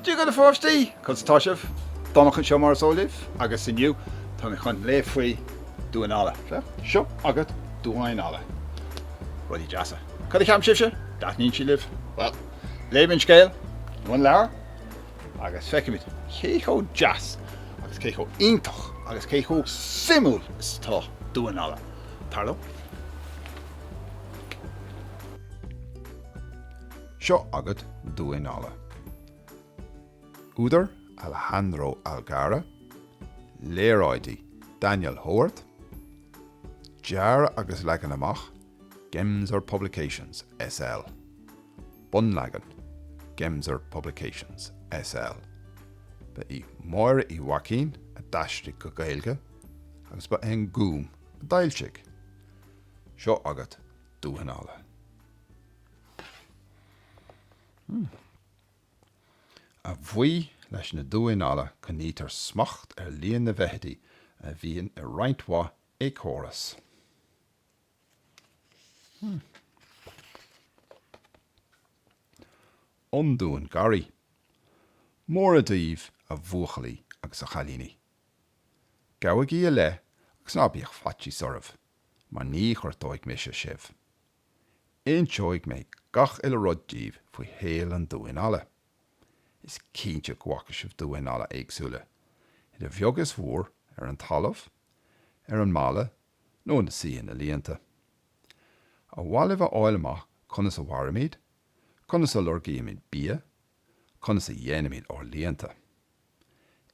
Dia dhaoibh a pháistí! Conas atá sibh? Donncha anseo mar is eol daoibh agus inniu tá mé chun léamh faoi damháin alla. Sea, seo agat Damháin Alla. Rudaí deasa. Cad a cheapann sibhse? Dtaitníonn sí libh? Bhuel, léifidh mé an scéal, an leabhar. agus feicfimid cé chomh deas agus cé chomh iontach agus cé chomh suimiúil is atá damháin alla, tar liom. Seo agat Damháin Alla. Údar, Alejandro Algarra, Léaráidí, Daniel Howarth, Dearadh agus leagan amach, Gemser Publications, SL. bunleagan, Gemser Publications, SL. Ba í Máire Uí Mhaicín a d'aistrigh go Gaeilge agus ba é an Gúm a d'fhoilsigh. Seo agat Damháin Alla. A bhuí leis na damháin alla coinnítear smacht ar líon na bhfeithidí a bhíonn i roinnt mhaith éiceachóras. An Damhán Garraí. Móra daoibh a bhuachaillí agus a chailíní. Gabhaigí i leith agus ná bíodh faitíos oraibh mar ní ghortóidh mise sibh. Inseoidh mé gach uile rud daoibh faoi shaol an damháin alla. Is cinnte go bhfaca sibh damháin alla éagsúla, idir bheag is mhór, ar an talamh, ar an mballa nó ina suí ina líonta. Ar mhaith libh a fháil amach conas a mhairimid, conas a lorgaímid bia, conas a dhéanaimid ár líonta.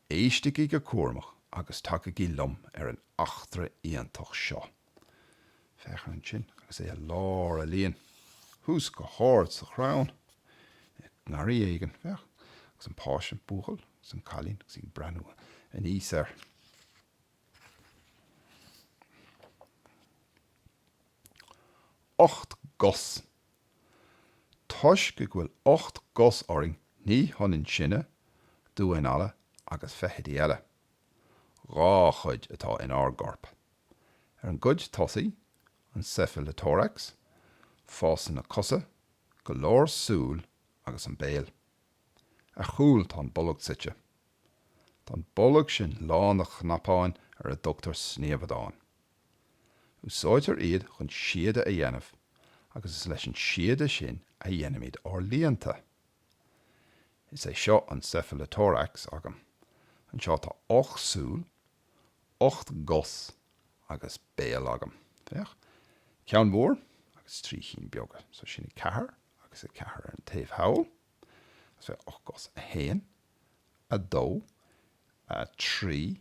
Éistigí go cúramach agus tagaigí liom ar an eachtra iontach seo. Féach air ansin agus é i lár a líon, thuas go hard sa chrann, i ngarraí éigin, féach, agus an páiste, an buachaill agus an cailín agus iad ag breathnú aníos air. Ocht gcos. Toisc go bhfuil ocht gcos orainn ní hionann sinne, damháin alla agus feithidí eile. Dhá chuid atá inár gcorp. Ar an gcuid tosaigh, an cephalothorax, fásann na cosa, go leor súl agus an béal. Ar chúl tá an bolg suite. Tá an bolg sin lán de chnapáin ar a dtugtar sníomhadáin. Úsáidtear iad chun síoda a dhéanamh agus is leis an síoda sin a dhéanaimid ár líonta. Is é seo an cephalothorax agam. Anseo tá ocht súil. ocht gcos agus béal agam, féach, ceann mór agus trí chinn beaga, so sin a ceathair agus a ceathair ar an taobh thall, agus féach, ocht gcos, a haon, a dó, a trí,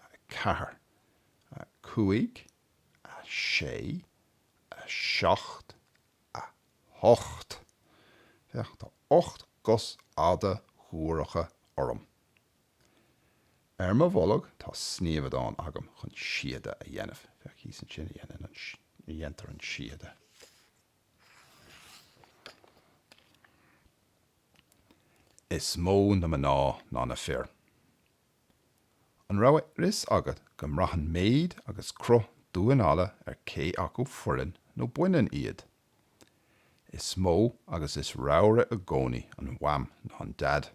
a ceathair, a cúig, a sé, a seacht, a hocht. Féach, tá ocht gcos fhada ghuaireacha orm. Ar mo bholg tá sníomhadán agam chun síoda a dhéanamh. Féach thíos ansin a dhéantar an síoda. Is mó na mná ná na fir. An raibh a fhios agat go mbraitheann méid agus cruth duán alla ar cé acu fireann nó baineann iad? Is mó agus is raimhre i gcónaí an mham ná an dad.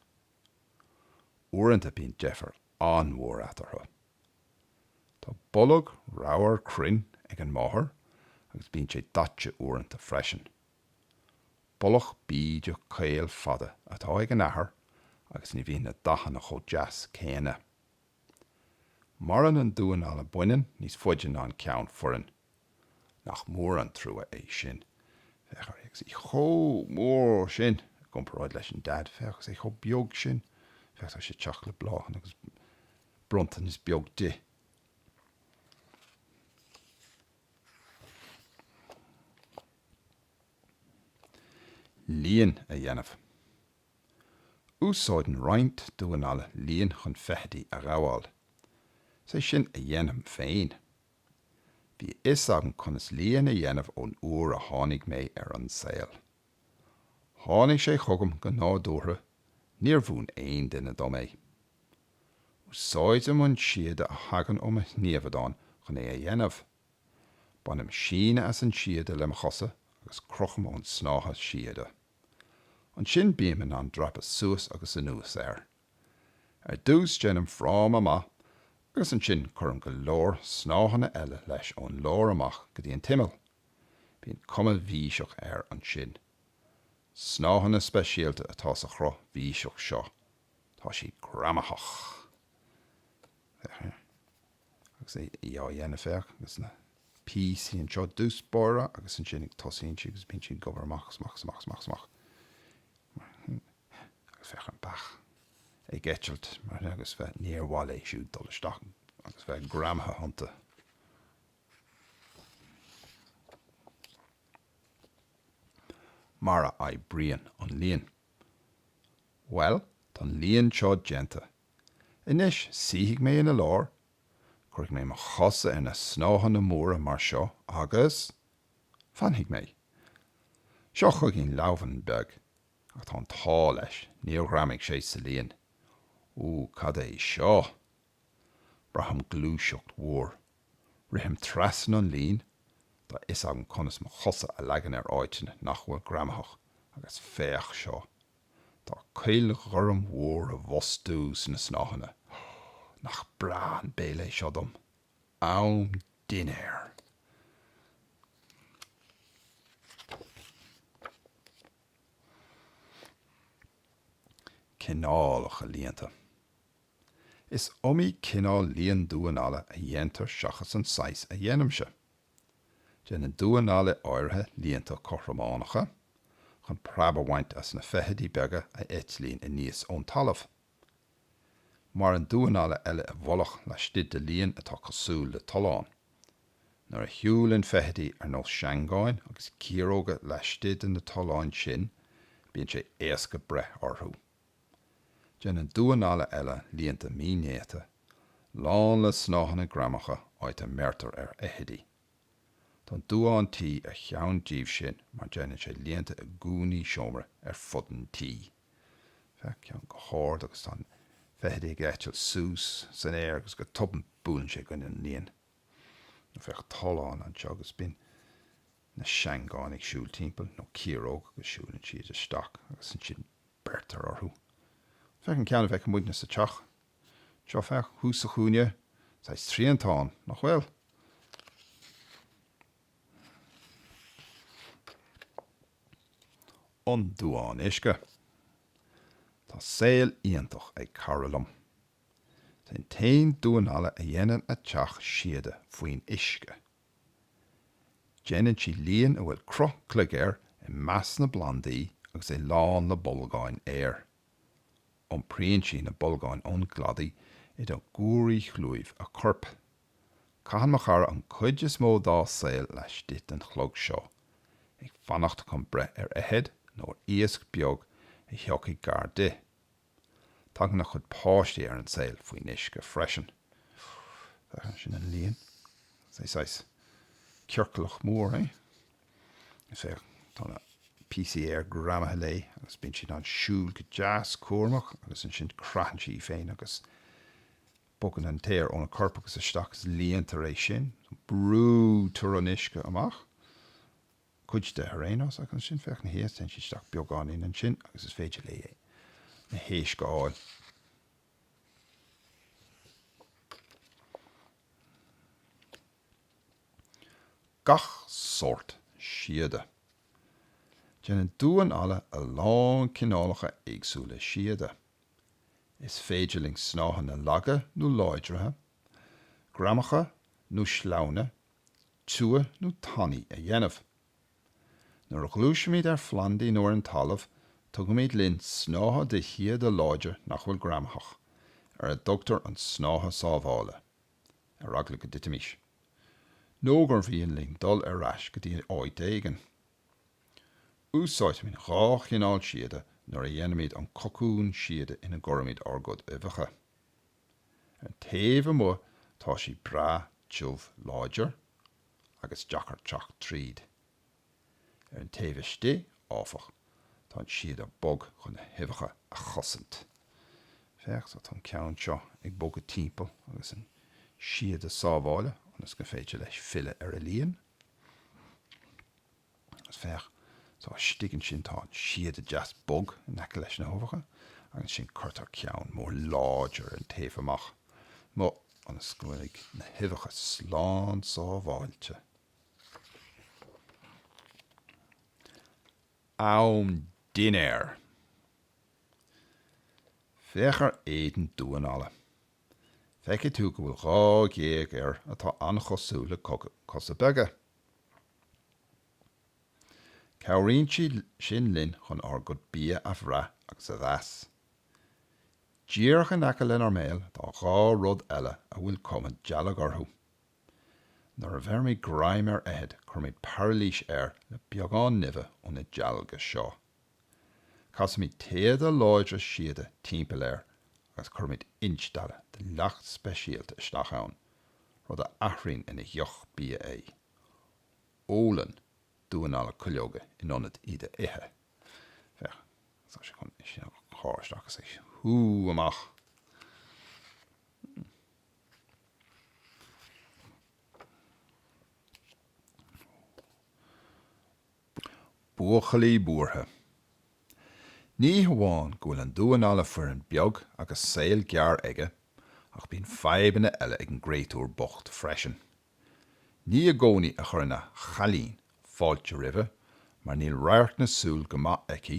Uaireanta bíonn deifir an-mhór eatarthu. Tá bolg ramhar cruinn ag an máthair agus bíonn sé daite uaireanta freisin. Bolg bídeach caol fada atá ag an athair agus ní bhíonn na dathanna chomh deas céanna. Maireann an duán alla baineann níos faide ná an ceann fireann. Nach mór an trua é sin. Féach air agus í chomh mór sin i gcomparáid leis an Daid. Féach, agus é chomh beag sin. Féach, tá sé ag teacht le bláthanna agus bronntanais beag di. Líon a dhéanamh. Úsáideann roinnt duán alla líon chun feithidí a ghabháil. Is é sin a dhéanaim féin. Bhí a fhios agam conas líon a dhéanamh ón uair a tháinig mé ar an saol. Tháinig sé chugam go nádúrtha, níor mhúin aon duine dom é. Úsáidim an síoda a thagann ó mo shníomhadán chun é a dhéanamh. Bainim síneadh as an síoda le mo chosa agus crochaim ón snáithe síoda. Ansin bím in ann dreapadh suas agus anuas air. Ar dtús déanaim fráma amach agus ansin cuirim go leor snáitheanna eile leis ón lár amach go dtí an t-imeall. Bíonn cuma bhíseach air ansin. Snáitheanna speisialta atá sa chruth bhíseach seo. Tá siad greamaitheach. Agus í á dhéanamh féach agus na píosaí anseo i dtús báire agus ansin ag tosaíonn sí agus bíonn sí ag obair amach is amach is amach is amach is amach. agus féach an beach ag eitilt mar sin agus bheadh, níor mhaith léi siúd dul isteach agus bheith greamaithe iontu. Mar a oibríonn an líon? Bhuel, tá an líon seo déanta. Anois, suífidh mé ina lár, cuirfidh mé mo chosa ar na snáitheanna móra mar seo agus. fanfaidh mé. Seo chugainn leamhan beag Ach tá an t-ádh leis, níor ghreamaigh sé sa líon. Ú, cad é seo? Braithim gluaiseacht mhór. Rithim trasna an lín, tá a fhios agam conas mo chosa a leagan ar áiteanna nach bhfuil greamaitheach, agus féach seo! Tá cuil ghorm mhór i bhfostú sna snáitheanna. Nach breá an béile é seo dom? Am dinnéir! Cineálacha líonta. Is iomaí cineál líon damháin alla a dhéantar seachas an saghas a dhéanaimse. Déanann damháin alla áirithe líonta cothrománacha chun preab a bhaint as na feithidí beaga a eitlíonn aníos ón talamh. Maireann damháin alla eile i bhfolach laistigh de líon atá cosúil le tollán. Nuair a shiúlann feithidí ar nós seangáin agus ciaróga laistigh de na tolláin sin, bíonn sé éasca breith orthu. Déanann damháin alla eile líonta mínéata, lán le snáitheanna greamacha áit a mbeirtear ar fheithidí. Tá an damhán tí ar cheann díobh sin mar déanann sé líonta i gcúinní seomra ar fud an tí. Féach ceann go hard agus tá an feithide ag eitilt suas san aer agus go tobann buaileann sé i gcoinne an líon. Nó féach tollán anseo agus bíonn na seangáin ag siúl timpeall, nó ciaróg agus siúlann siad isteach agus ansin beirtear orthu. Féach an ceann a bhfeicimidne sa teach. Seo, féach, thuas sa chúinne, saghas triantán, nach bhfuil? an damhán uisce. Tá saol iontach ag cara liom. Is é an t-aon damhán alla a dhéanann a teach síoda faoin uisce. Déanann sí líon a bhfuil cruth cloig air i measc na bplandaí agus é lán le bolgáin aeir. Iompraíonn sí na bolgáin ón gcladaí idir ghuairí chlúimh a coirp. Caitheann mo chara an cuid is mó dá saol laistigh den chlog seo, ag fanacht chun breith ar fheithid nó ar iasc beag a thiocfaidh gar di. Tagann a chuid páistí ar an saol faoin uisce freisin. Sin an líon. Saghas ciorclach mór é. Is é, tá na píosaí aeir greamaithe léi agus bíonn sí in ann siúl go deas cúramach agus ansin craitheann sí í féin agus Bogann an t-aer óna corp agus isteach is líontar é sin. Brúitear an uisce amach, cuid de ar aon nós, agus ansin, féach, ina dhiaidh, téann sí isteach beagáinín ansin agus is féidir léi na héisc a fháil. Gach sórt síoda. Déanann damháin alla a lán cineálacha éagsúla síoda. Is féidir linn snáitheanna laga nó láidre, greamaitheacha nó sleamhna, tiubha nó tanaí a dhéanamh. Nuair a ghluaisimid ar phlandaí nó ar an talamh, tugaimid linn snáithe de shíoda láidir nach bhfuil greamaitheach, ar a dtugtar an snáithe sábhála, ar eagla go dtitfimís, nó gur mhian linn dul ar ais go dtí áít éigin. Úsáidimid dhá chineál síoda nuair a dhéanaimid an cocún síoda ina gcuirimid ár gcuid uibheacha. Ar an taobh amuigh tá sé breá tiubh láidir agus deacair teacht tríd. Ar an taobh istigh, áfach, tá an síoda bog chun na huibheacha a chosaint. Féach, tá an ceann seo ag bogadh timpeall agus an síoda sábhála ionas gur féidir leis filleadh ar a líon. Agus féach, tá istigh ansin, tá an síoda deas bog in aice leis na huibheacha, agus ansin cuirtear ceann mór láidir ar an taobh amach, ionas go bhfuil na huibheacha slán sábháilte. Am dinnéir! Féach ar éadan damháin alla! feicfidh tú go bhfuil dhá ghéag air atá an-chosúil le cosa beaga. Cabhraíonn siad sin linn chun ár gcuid bia a bhrath agus a mheas. Díreach in aice lenár mbéal tá dhá rud eile a bhfuil cuma dealg orthu. Nuair a bheirimid greim ar fheithid cuirimid pairilís air le beagán nimhe ó na dealga seo. Casaimid téada láidre síoda timpeall air agus cuirimid instealladh de leacht speisialta isteach ann, rud a athraíonn ina dheoch bia é. Ólann duáin alla cuileoga in ionad iad a ithe. Féach, tá sé chun é sin a shá isteach is a shú amach! Buachaillí Buartha. Ní hamháin go bhfuil an duán alla fireann beag agus saol gearr aige ach bíonn fadhbanna eile ag an gcréatúr bocht freisin. Ní i gcónaí a chuireann a 'chailín' fáilte roimhe mar níl radharc na súl go maith aici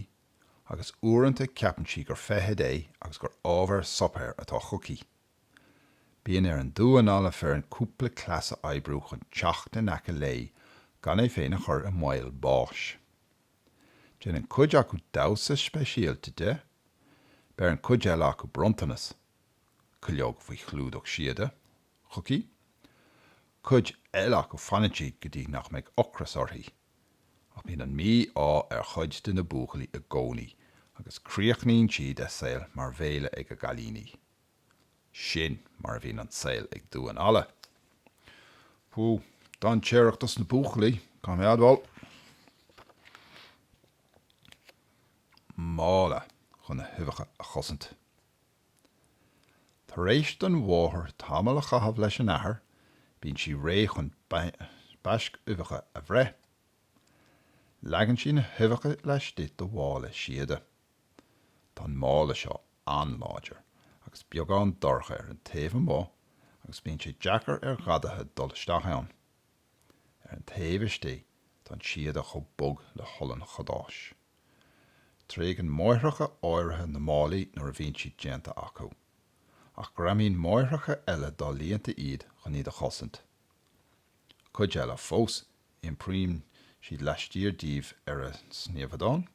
agus uaireanta ceapann sí gur feithid é agus gur ábhar suipéir atá chuici. Bíonn ar an duán alla fireann cúpla cleas a oibriú chun teacht in aice léi gan é féin a chur i mbaol báis. Déanann cuid acu damhsa speisialta di, beireann cuid eile acu bronntanas, cuileog faoi chlúdach síoda, chuici, cuid eile acu fanaid go dtí nach mbeidh ocras uirthi. Ach bíonn an mí-ádh ar chuid de na buachaillí i gcónaí agus críochnaíonn siad a saol mar bhéile ag a gcailíní. Sin mar a bhíonn an saol ag duáin alla. Bú, dainséarach dos na buachaillí, caithfidh mé a admháil. Mála chun na huibheacha a chosaint. Tar éis don mháthair tamall a chaitheamh leis an athair, bíonn sí réidh chun baisc uibheacha a bhreith. Leagann sí na huibheacha laistigh de mhála síoda. Tá an mála seo an-láidir agus beagán dorcha ar an taobh amuigh agus bíonn sé deacair ar ghadaithe dul isteach ann. Ar an taobh istigh tá an síoda chomh bog le holann cadáis. Tréigeann máithreacha áirithe na málaí nuair a bhíonn siad déanta acu, ach greamaíonn máithreacha eile dá líonta iad chun iad a chosaint. Cuid eile fós, iompraíonn siad laistiar díobh ar a sníomhadán.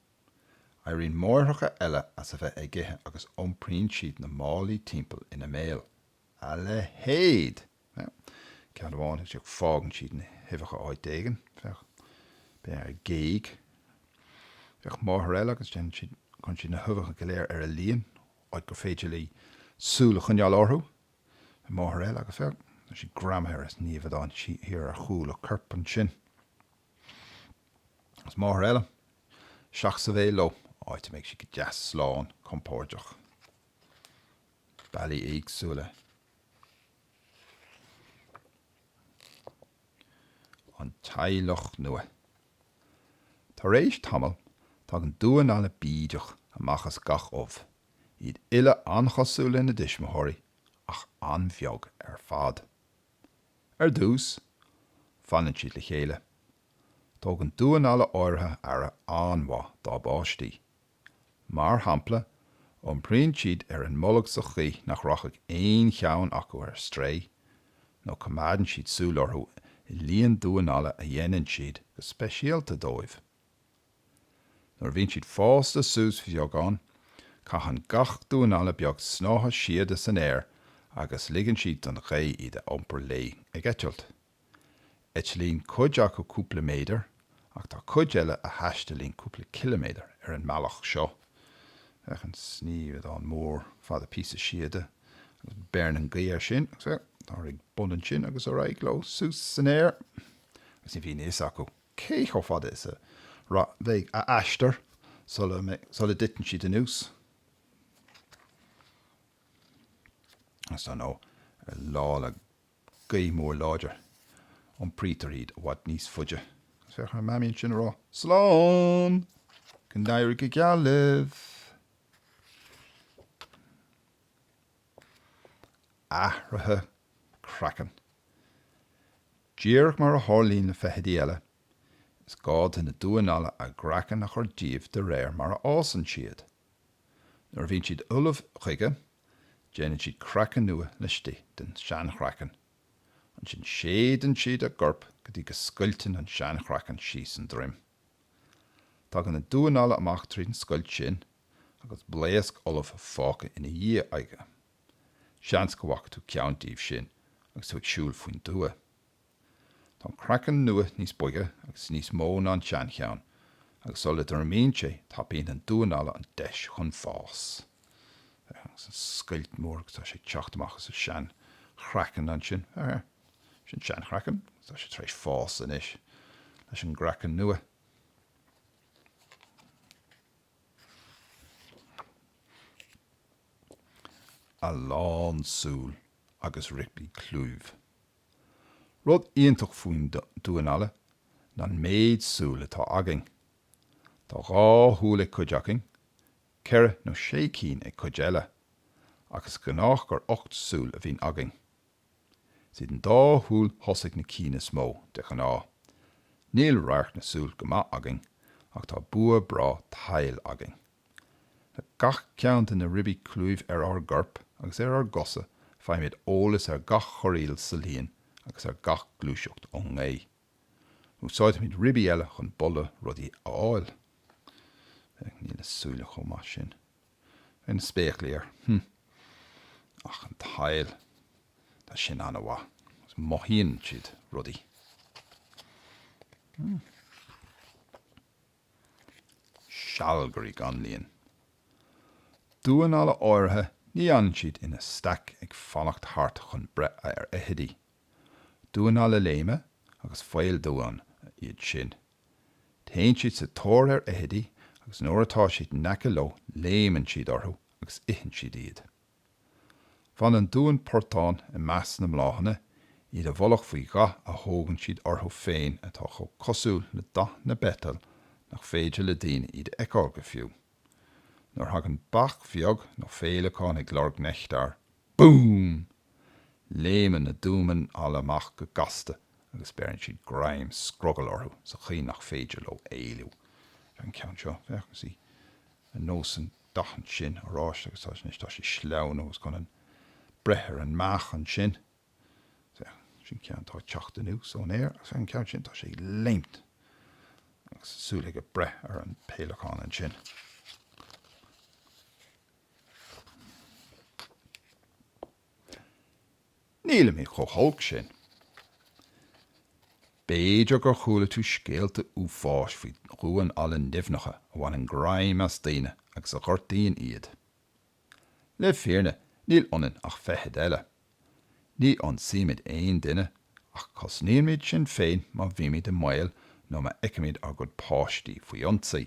Éiríonn máithreacha eile as a bheith ag ithe agus iompraíonn siad na málaí timpeall ina mbéal. A leithéid! Féach, ceann amháin, ansin, fágann siad na huibheacha áit éigin. Féach, b'fhéidir ar ghéag. Féach, máthair eile agus déanann siad, cuireann siad na huibheacha go léir ar a líon, áit gur féidir léi súil a choinneáil orthu. Féach, máthair eile agus féach, tá siad greamaithe ar an sníomhadán thiar ar chúl a coirp ansin. Is máthair eile, isteach sa bhéal leo, áit a mbeidh sí go deas slán compóirdeach. Bealaí éagsúla an teaghlach nua. Tar éis tamaill, tagann damhán alla bídeach amach as gach ubh, iad uile an-chosúil lena dtuismitheoirí, ach an-bheag ar fad. Ar dtús, fanann siad le chéile. Tugann damháin alla áirithe aire an-mhaith dá bpáistí. Mar shampla, iompraíonn siad ar an mbolg sa chaoi nach rachaidh aon cheann acu ar strae, nó coimeádann siad súil orthu i líon damháin alla a dhéanann siad go speisialta dóibh. Nuair a bhíonn siad fásta suas bheagán, caitheann gach damhán alla beag snáithe síoda san aer agus ligeann siad don ghaoth iad a iompar léi ag eitilt. Eitlíonn cuid acu cúpla méadar ach tá cuid eile a thaistealaíonn cúpla ciliméadar ar an mbealach seo. Féach an sníomhadán mór fada píosa síoda agus beireann an ghaoth air sin agus féach, táthar ag bun ansin agus ar aghaidh leo suas san aer agus ní bhíonn a fhios acu, cé chomh fada is a bheidh a aistear sula dtiteann siad anuas is dar ndóigh ar lá le gaoth mhór láidir, iompraítear iad i bhfad níos faide agus féach ar Mamaí ansin ag rá 'Slán! Go n-éirí go geal libh! Athruithe craicinn Díreach mar a tharlaíonn le feithidí eile, is gá do na damháin alla a gcraiceann a chur díobh de réir mar a fhásann siad. Nuair a bhíonn siad ullamh chuige, déanann siad craiceann nua laistigh den seanchraiceann. Ansin séideann siad a gcorp go dtí go scoilteann an seanchraiceann síos an droim. Tagann an damhán alla amach tríd an scoilt sin, agus blaosc fholamh fágtha ina dhiaidh aige. Seans go bhfaca tú ceann díobh sin agus tú ag siúl faoin dtuath. Tá an craiceann nua níos boige agus níos mó ná an seancheann agus sula dtriomaíonn sé tapaíonn an damhán alla an deis chun fás. Agus an scoilt mhór agus tá sé ag teacht amach as an seanchraiceann ansin, sin an seanchraiceann agus tá sé tar éis fás anois leis an gcraiceann nua. a lán súl agus ribí clúimh. Rud iontach faoin damhán alla ná an méid súl atá againn. Tá dhá shúil ag cuid againn, ceithre nó sé cinn ag cuid eile, ach is gnách gur ocht súil a bhíonn againn. Is iad an dá shúil thosaigh na cinn is mó, de ghnáth. Níl radharc na súl go maith againn, ach tá bua breá tadhaill againn. Le gach ceann de na ribí clúimh ar ár gcorp agus ar ár gcosa faighimid eolas ar gach chorraíl sa líon agus ar gach gluaiseacht ón ngaoth. Úsáidimid ribí eile chun boladh rudaí a fháil. Féach, níl na súile chomh maith sin. Féach na spéaclaí air. Hmm. Ach an tadhall, tá sin an-mhaith, agus mothaíonn siad rudaí. Hmm. Sealgairí gan líon. Damháin alla áirithe, ní fhanann siad ina staic ag fanacht thart chun breith ar fheithidí. Damháin alla léime agus faoldamháin iad sin. Téann siad sa tóir ar fheithidí agus nuair atá siad in aice leo léimeann siad orthu agus itheann siad iad. Fanann damháin portán i measc na mbláthanna, iad i bhfolach faoi dhath a thógann siad orthu féin atá chomh cosúil le dath na bpeiteal nach féidir le daoine iad a fheiceáil go fiú. Nuair a thagann beach bheag nó féileacán ag lorg neachtair, Búm! Léimeann na damháin alla amach go gasta agus beireann siad greim scrogaill orthu sa chaoi nach féidir leo éalú. Féach an ceann seo, féach, agus í ar nós an dath ansin, oráiste, agus tá, anois tá sí sleamhain agus chun breith ar an mbeach ansin. Féach, sin ceann atá ag teacht anuas ón aer agus féach an ceann sin tá sé ag léimt agus súil aige breith ar an bhféileacán ansin. Nílimid chomh holc sin. B'fhéidir gur chuala tú scéalta uafáis faoi dhamháin alla nimhneacha a bhaineann greim as daoine agus a ghortaíonn iad. Le fírinne níl ionainn ach feithid eile. Ní ionsaímid aon duine ach cosnaímid sinn féin má bhímid i mbaol nó má fheicimid ár gcuid páistí faoi ionsaí.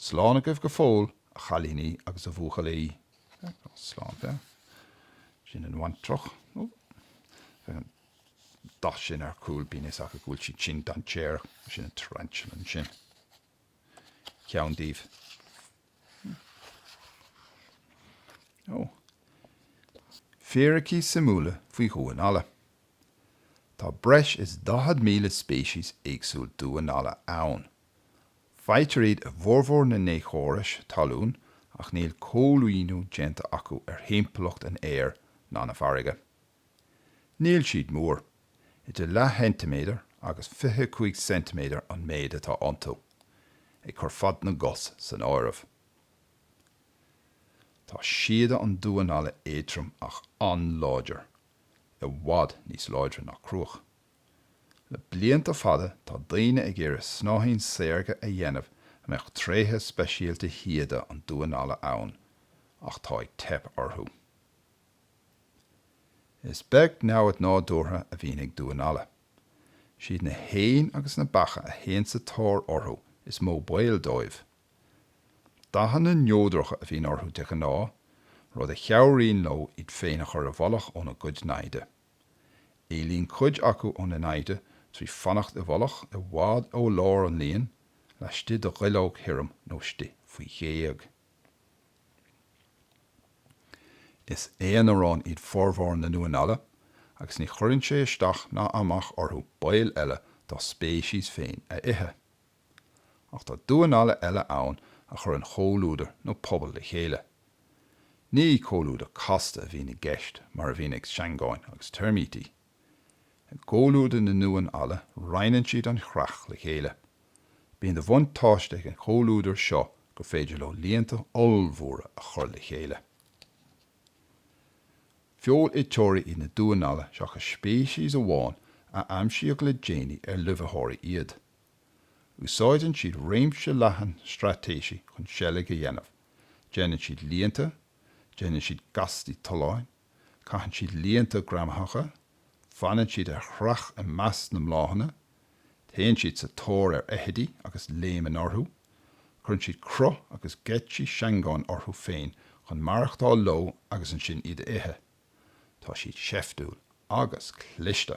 Slán agaibh go fóill, a chailíní agus a bhuachaillí. Slán. Féach, sin an bhaintreach. Ó, féach an dath sin ar a cúl, bíonn a fhios acu go bhfuil sí sin dainséarach. Sin an tarantula ansin. Ceann díobh. Ó. Fíricí suimiúla faoi dhamháin alla. Tá breis is 40,000 speiceas éagsúil damhán alla ann Faightear iad i bhformhór na n-éiceachórais talún ach níl coilíniú déanta acu ar thimpeallacht an aeir ná na farraige. Níl siad mór, idir leathcheintiméadar agus 25 ceintiméadar an méid atá iontu, ag cur fad na gcos san áireamh. Tá síoda an damháin alla éadtrom ach an-láidir, i bhfad níos láidre ná cruach. Le blianta fada tá daoine ag iarraidh snáithín saorga a dhéanamh a mbeadh tréithe speisialta shíoda an damháin alla ann ach tá ag teip orthu. Is beag namhad nádúrtha a bhíonn ag damháin alla. Is iad na héin agus na beacha a théann sa tóir orthu is mó baol dóibh. Dathanna neodracha a bhíonn orthu de ghnáth, rud a chabhraíonn leo iad féin a chur i bhfolach óna gcuid naimhde. Éalaíonn cuid acu óna naimhde trí fanacht i bhfolach i bhfad ó lár an líon laistigh de dhuilleog thirim nó istigh faoi ghéag. Is aonaráin iad formhór na ndamhán alla agus ní chuireann sé isteach ná amach orthu baill eile dá speiceas féin a ithe. Ach tá damháin alla eile ann a chuireann comhluadar nó pobal le chéile. Ní comhluadar casta a bhíonn i gceist mar a bhíonn ag seangáin agus teirmítí. I gcomhluadar na ndamhán alla roinneann siad an chreach le chéile. Bíonn de bhuntáiste ag an chomhluadar seo gur féidir leo líonta ollmhóra a chur le chéile. Feoiliteoirí iad na damháin alla seachas speiceas amháin a aimsíodh le déanaí ar luibhiteoirí iad. Úsáideann siad réimse leathan straitéisí chun seilg a dhéanamh, déanann siad líonta, déanann siad gaistí tolláin, caitheann siad líonta greamaitheacha, fanann siad ar chreach i measc na mbláthanna, téann siad sa tóir ar fheithidí agus léimeann orthu, cuireann siad cruth agus geáitsí seangáin orthu féin chun maireachtáil leo agus ansin iad a ithe. Tá siad seiftiúil agus cliste.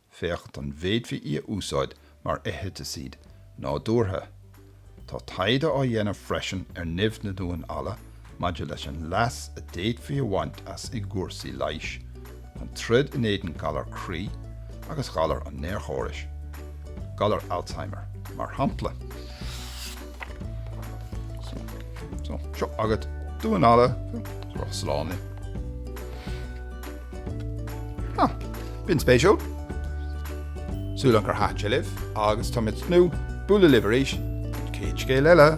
féachaint an bhféadfaí í a úsáid mar fheithicid nádúrtha. Tá taighde á dhéanamh freisin ar nimh na ndamhán alla maidir leis an leas a d'fhéadfaí a bhaint as i gcúrsaí leighis, chun troid in éadan galar croí agus galar an néarchórais, galar Alzheimer, mar shampla. Seo agat damhán alla, slán léi. B'in spéisiúil. Súil agam gur thaitin sé libh agus tá mé ag tnúth bualadh libh arís don chéad scéal eile.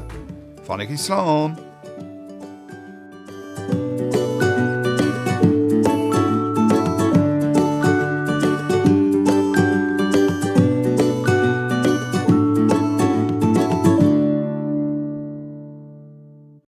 Fanaigí slán!